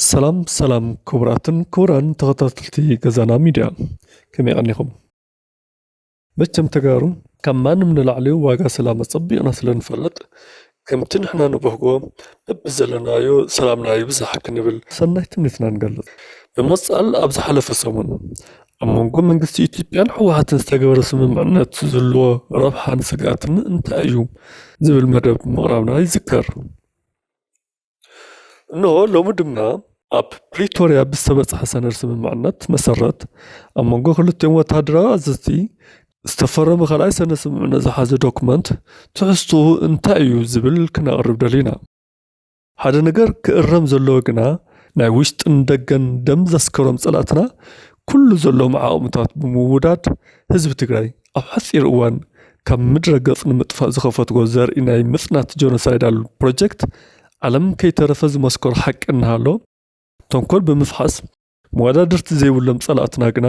ሰላም ሰላም ክቡራትን ክቡራን ተኸታተልቲ ገዛና ሚድያ ከመይ ቀኒኹም? መቸም ተጋሩ ካብ ማንም ንላዕሊ ዋጋ ሰላም ኣጸቢቕና ስለ ንፈልጥ ከምቲ ንሕና ንብህጎ በብዘለናዮ ሰላምና ይብዛሕ ክንብል ሰናይ ትምኒትና ንገልጽ። ብምቕጻል ኣብ ዝሓለፈ ሰሙን ኣብ መንጎ መንግስቲ ኢትዮጵያን ህወሓትን ዝተገበረ ስምምዕነት ዝህልዎ ረብሓን ስግኣትን እንታይ እዩ ዝብል መደብ ምቕራብና ይዝከር። እነሆ ሎሚ ድማ ኣብ ፕሪቶርያ ብዝተበጽሐ ሰነድ ስምምዕነት መሰረት ኣብ መንጎ ክልቲኦም ወተሃደራዊ ኣዘዝቲ ዝተፈረመ ካልኣይ ሰነድ ስምምዕነት ዝሓዘ ዶክመንት ትሕዝትኡ እንታይ እዩ ዝብል ክነቕርብ ደሊና። ሓደ ነገር ክእረም ዘለዎ ግና ናይ ውሽጥን ደገን ደም ዘስከሮም ጸላእትና ኩሉ ዘለዎም ዓቕምታት ብምውዳድ ህዝቢ ትግራይ ኣብ ሓጺር እዋን ካብ ምድረ ገጽ ንምጥፋእ ዝኸፈትዎ ዘርኢ ናይ ምጽናት ጆኖሳይዳል ፕሮጀክት ዓለም ከይተረፈ ዝመስከሮ ሓቂ እናሃሎ፣ ተንኮል ብምፍሓስ መወዳድርቲ ዘይብሎም ጸላእትና ግና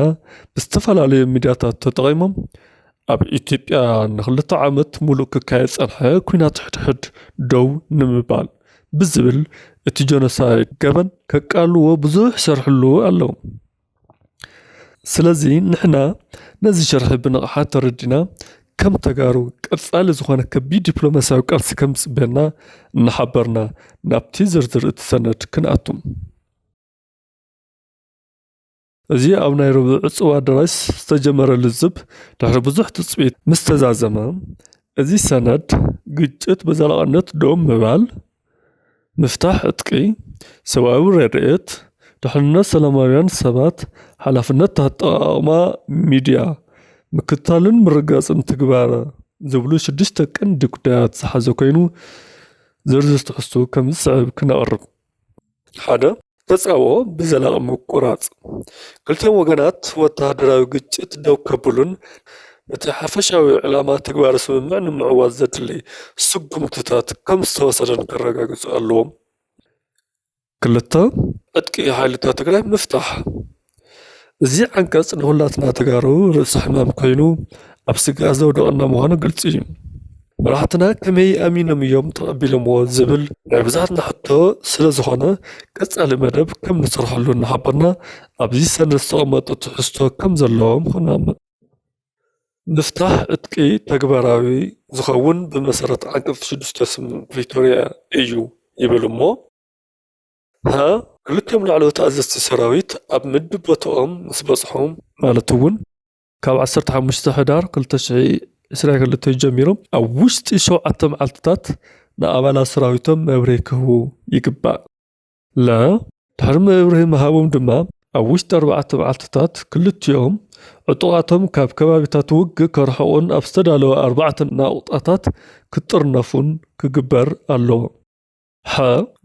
ብዝተፈላለዩ ሚድያታት ተጠቒሞም ኣብ ኢትዮጵያ ንክልተ ዓመት ሙሉእ ክካየድ ዝጸንሐ ኲናት ሕድሕድ ደው ንምባል ብዝብል እቲ ጆኖሳይድ ገበን ከቃልልዎ ብዙሕ ይሰርሕሉ ኣለዉ። ስለዚ ንሕና ነዚ ሸርሒ ብንቕሓት ተረዲና ከም ተጋሩ ቀጻሊ ዝኾነ ከቢድ ዲፕሎማስያዊ ቃልሲ ከም ዝጽበየና እናሓበርና ናብቲ ዝርዝር እቲ ሰነድ ክንኣቱ። እዚ ኣብ ናይ ረቡዕ ዕጹው ኣደራሽ ዝተጀመረ ልዝብ ድሕሪ ብዙሕ ትጽቢት ምስ ተዛዘመ፣ እዚ ሰነድ ግጭት ብዘላቕነት ደው ምባል፣ ምፍታሕ ዕጥቂ፣ ሰብኣዊ ረድኤት፣ ድሕንነት ሰላማውያን ሰባት፣ ሓላፍነት ኣጠቓቕማ ሚድያ፣ ምክትታልን ምርግጋፅን ትግባረ ዝብሉ ሽዱሽተ ቀንዲ ጉዳያት ዝሓዘ ኮይኑ ዝርዝር ትሕዝትኡ ከምዝስዕብ ክነቕርብ። ሓደ ተጻብኦ ብዘላቂ ምቁራጽ ክልቲኦም ወገናት ወተሃደራዊ ግጭት ደው ከብሉን ነቲ ሓፈሻዊ ዕላማ ትግባረ ስምምዕ ንምዕዋት ዘድሊ ስጉምትታት ከም ዝተወሰደን ከረጋግጹ ኣለዎም። ክልተ ዕጥቂ ሓይልታት ትግራይ ምፍታሕ እዚ ዓንቀፅ ንኹላትና ተጋሩ ርእሲ ሕማም ኮይኑ ኣብ ስግኣት ዘውድቐና ምዃኑ ግልፂ እዩ። መራሕትና ከመይ ኣሚኖም እዮም ተቐቢሎምዎ ዝብል ናይ ብዙሓትና ሕቶ ስለ ዝኾነ ቀፃሊ መደብ ከም ንሰርሐሉ እናሓበርና ኣብዚ ሰነድ ዝተቐመጡ ትሕዝቶ ከም ዘለዎም ክንኣምን። ምፍታሕ ዕጥቂ ተግባራዊ ዝኸውን ብመሰረት ዓንቀፅ ሽዱሽተ ስምምዕ ፕሪቶርያ እዩ ይብል እሞ። ሀ ክልቲኦም ላዕለዎት ኣዘዝቲ ሰራዊት ኣብ ምድብ ቦታኦም ምስ በጽሑ፣ ማለት እውን ካብ ዓሰርተ ሓሙሽተ ሕዳር ክልተ ሽሕን ዕስራን ክልተን ጀሚሩ ኣብ ውሽጢ ሸውዓተ መዓልቲታት ንኣባላት ሰራዊቶም መብርሂ ክህቡ ይግባእ። ለ ድሕሪ መብርሂ ምሃቦም ድማ ኣብ ውሽጢ ኣርባዕተ መዓልቲታት ክልቲኦም ዕጡቓቶም ካብ ከባቢታት ውግእ ከርሕቑን ኣብ ዝተዳለወ ኣርባዕተ ናቑጣታት ክጥርነፉን ክግበር ኣለዎ። ሐ፣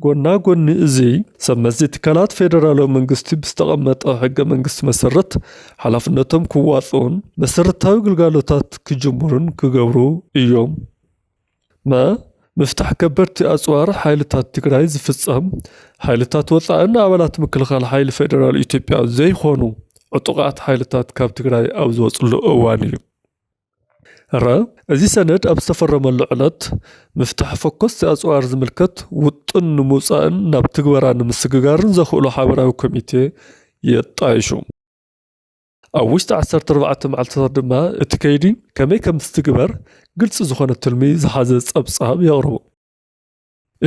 ጎና ጎኒ እዚ፣ ሰብ መዚ ትካላት ፌደራላዊ መንግስቲ ብዝተቐመጠ ሕገ መንግስቲ መሰረት ሓላፍነቶም ክዋፅኡን መሰረታዊ ግልጋሎታት ክጅምሩን ክገብሩ እዮም። መ፣ ምፍታሕ ከበድቲ ኣፅዋር ሓይልታት ትግራይ ዝፍፀም ሓይልታት ወፃእን ኣባላት ምክልኻል ሓይሊ ፌደራል ኢትዮጵያ ዘይኾኑ ዕጡቓት ሓይልታት ካብ ትግራይ ኣብ ዝወፅሉ እዋን እዩ። ረ፣ እዚ ሰነድ ኣብ ዝተፈረመሉ ዕለት፣ ምፍታሕ ፈኮስቲ ኣጽዋር ዝምልከት ውጥን ንምውጻእን ናብ ትግበራ ንምስግጋርን ዘኽእሎ ሓበራዊ ኮሚቴ የጣይሹ። ኣብ ውሽጢ ዓሰርተ ኣርባዕተ መዓልትታት ድማ እቲ ከይዲ ከመይ ከምዝትግበር ግልፂ ዝኾነ ትልሚ ዝሓዘ ፀብፃብ የቕርቡ።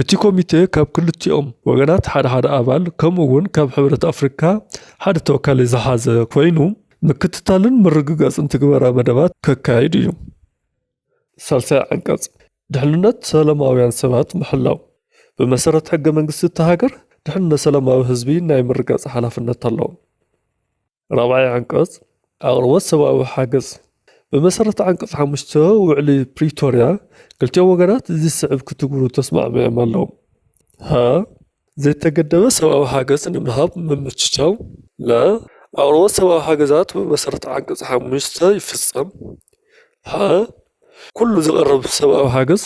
እቲ ኮሚቴ ካብ ክልቲኦም ወገናት ሓደ ሓደ ኣባል ከምኡ እውን ካብ ሕብረት ኣፍሪካ ሓደ ተወካሊ ዝሓዘ ኮይኑ ምክትታልን ምርግጋፅን ትግበራ መደባት ከካይድ እዩ። ሳልሳይ ዓንቀፅ ድሕንነት ሰለማውያን ሰባት ምሕላው ብመሰረት ሕገ መንግስቲ እታ ሃገር ድሕንነት ሰለማዊ ህዝቢ ናይ ምርጋፅ ሓላፍነት ኣለዎም። ራብዓይ ዓንቀፅ ኣቕርቦት ሰብኣዊ ሓገዝ ብመሰረት ዓንቀፅ ሓሙሽተ ውዕሊ ፕሪቶርያ ክልቲኦም ወገናት እዚ ዝስዕብ ክትግብሩ ተስማዕሚዖም ኣለዉ ሀ ዘይተገደበ ሰብኣዊ ሓገዝ ንምሃብ ምምችቻው ለ ኣቕርቦት ሰብኣዊ ሓገዛት ብመሰረት ዓንቀፅ ሓሙሽተ ይፍፀም ሐ ኩሉ ዝቐርብ ሰብኣዊ ሓገዝ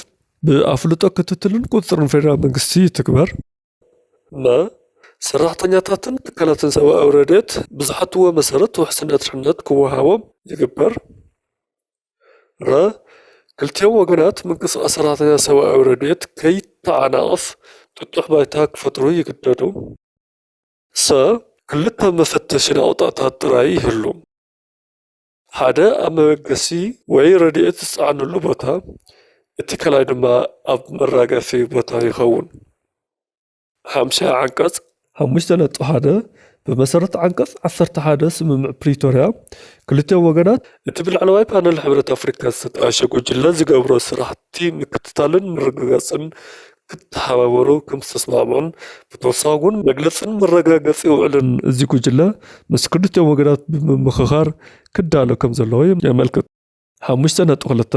ብኣፍልጦ ክትትልን ቁፅፅርን ፌደራል መንግስቲ ይትግበር። ን ሰራሕተኛታትን ትካላትን ሰብኣዊ ረድኤት ብዝሓትዎ መሰረት ውሕስነት ድሕነት ክወሃቦም ይግበር። ረ ክልቲኦም ወገናት ምንቅስቓስ ሰራሕተኛታት ሰብኣዊ ረድኤት ከይተዓናቐፍ ጥጡሕ ባይታ ክፈጥሩ ይግደዱ። ሰ ክልተ መፈተሺ ናቑጣታት ጥራይ ይህሉ። ሓደ ኣብ መበገሲ ወይ ረድኤት ዝጸዓነሉ ቦታ፣ እቲ ካልኣይ ድማ ኣብ መራገፊ ቦታ ይኸውን። ሓምሻይ ዓንቀጽ ሓሙሽተ ነጥቢ ሓደ ብመሰረት ዓንቀጽ ዓሰርተ ሓደ ስምምዕ ፕሪቶርያ፣ ክልቲኦም ወገናት፣ እቲ ብላዕለዋይ ፓነል ሕብረት ኣፍሪካ ዝተጣየሸ ጉጅለ ዝገብሮ ስራሕቲ ምክትታልን ምርግጋጽን ክተሓባበሩ ከምዝተስማዕምዑን ብተወሳኺ እውን መግለፅን መረጋገፂ ውዕልን እዚ ጉጅለ ምስ ክልቲኦም ወገናት ብምምኽኻር ክዳሎ ከምዘለዎ የመልክት። ሓሙሽተ ነጥቢ ክልተ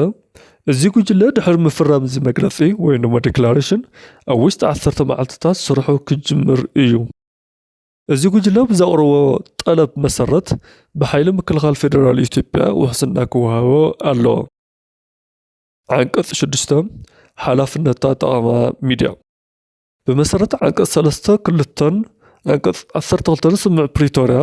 እዚ ጉጅለ ድሕሪ ምፍራም እዚ መግለፂ ወይም ድማ ዲክላሬሽን ኣብ ውሽጢ ዓሰርተ መዓልትታት ስርሑ ክጅምር እዩ። እዚ ጉጅለ ብዘቕረቦ ጠለብ መሰረት ብሓይሊ ምክልኻል ፌዴራል ኢትዮጵያ ውሕስና ክወሃቦ ኣለዎ። ዓንቀፅ ሽዱሽተ ሓላፍነት ኣጠቓቕማ ሚድያ ብመሰረት ዓንቀፅ ሰለስተ ክልተን ዓንቀፅ ዓሰርተ ክልተን ስምምዕ ፕሪቶርያ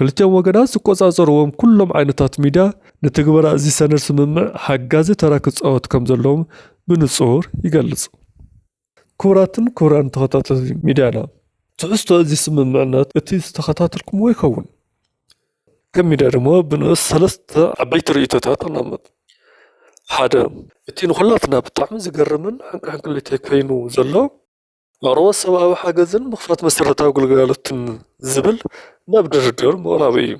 ክልቲኦም ወገናት ዝቆፃፀርዎም ኩሎም ዓይነታት ሚድያ ንትግበራ እዚ ሰነድ ስምምዕ ሓጋዚ ተራ ክፃወት ከም ዘለዎም ብንፁር ይገልፅ። ክቡራትን ክቡራን ተኸታተልቲ ሚድያና ትሕዝቶ እዚ ስምምዕነት እቲ ዝተኸታተልኩምዎ ይኸውን። ከም ሚድያ ድማ ብንኡስ ሰለስተ ዓበይቲ ርእይቶታት ንቕመጥ። ሓደ እቲ ንኹላትና ብጣዕሚ ዝገርምን ሕንቅሕንቅሊተይ ኮይኑ ዘሎ ኣቕርቦት ሰብኣዊ ሓገዝን ምኽፋት መሰረታዊ ግልጋሎትን ዝብል ናብ ድርድር ምቕራቡ እዩ።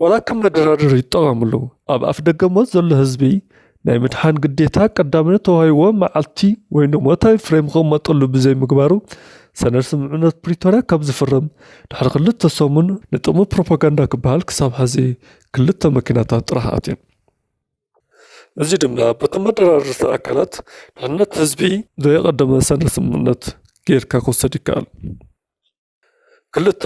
ዋላ ከም መደራደሪ ይጠቐምሉ። ኣብ ኣፍደገ ሞት ዘሎ ህዝቢ ናይ ምድሓን ግዴታ ቀዳምነት ተዋሂብዎ መዓልቲ ወይ ንሞታዊ ፍሬም ክቕመጠሉ ብዘይምግባሩ ሰነድ ስምምዕነት ፕሪቶርያ ካብ ዝፍረም ድሕሪ ክልተ ሰሙን ንጥቕሚ ፕሮፓጋንዳ ክበሃል ክሳብ ሐዚ ክልተ መኪናታት ጥራሕ ኣትየን። እዚ ድማ በቶም መደራደርቲ ኣካላት ድሕነት ህዝቢ ዘየቐደመ ሰነድ ስምምዕነት ጌርካ ክውሰድ ይከኣል። ክልተ፣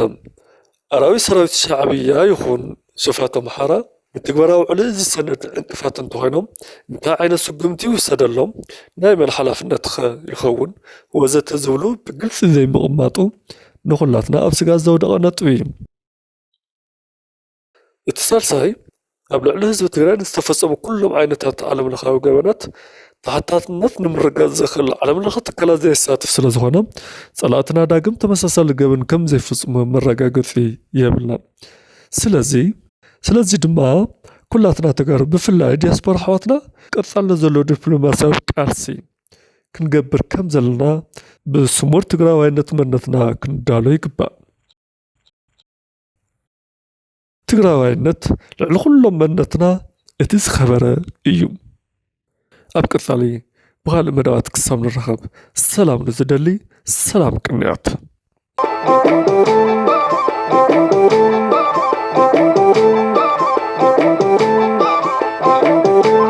ኣራዊት ሰራዊት ሻዕብያ ይኹን ሱፋት ኣምሓራ ንትግበራ ውዕሊ እዚ ሰነድ ዕንቅፋት እንተኾይኖም እንታይ ዓይነት ስጉምቲ ይውሰደሎም? ናይ መን ሓላፍነት'ኸ ይኸውን? ወዘተ ዝብሉ ብግልፂ ዘይምቕማጡ ንኹላትና ኣብ ስግኣት ዘውደቐ ነጥቢ እዩ። እቲ ሳልሳይ ኣብ ልዕሊ ህዝቢ ትግራይ ንዝተፈፀሙ ኩሎም ዓይነታት ዓለም ለኻዊ ገበናት ተሓታትነት ንምርግጋፅ ዘኽእል ዓለም ለኸ ትካላት ዘየሳትፍ ስለ ዝኾነ ፀላእትና ዳግም ተመሳሳሊ ገበን ከም ዘይፍፅሙ መረጋገፂ የብልናን። ስለዚ ስለዚ ድማ ኩላትና ተጋሩ ብፍላይ ዲያስፖራ ኣሕዋትና ቀፃልነት ዘለዎ ዲፕሎማስያዊ ቃልሲ ክንገብር ከም ዘለና ብስሙር ትግራዋይነት መንነትና ክንዳሎ ይግባእ። ትግራዋይነት ልዕሊ ኩሎም መንነትና እቲ ዝኸበረ እዩ። ኣብ ቀጻሊ ብኻልእ መደባት ክሳብ ንራኸብ ሰላም ንዝደሊ ሰላም ቅንያት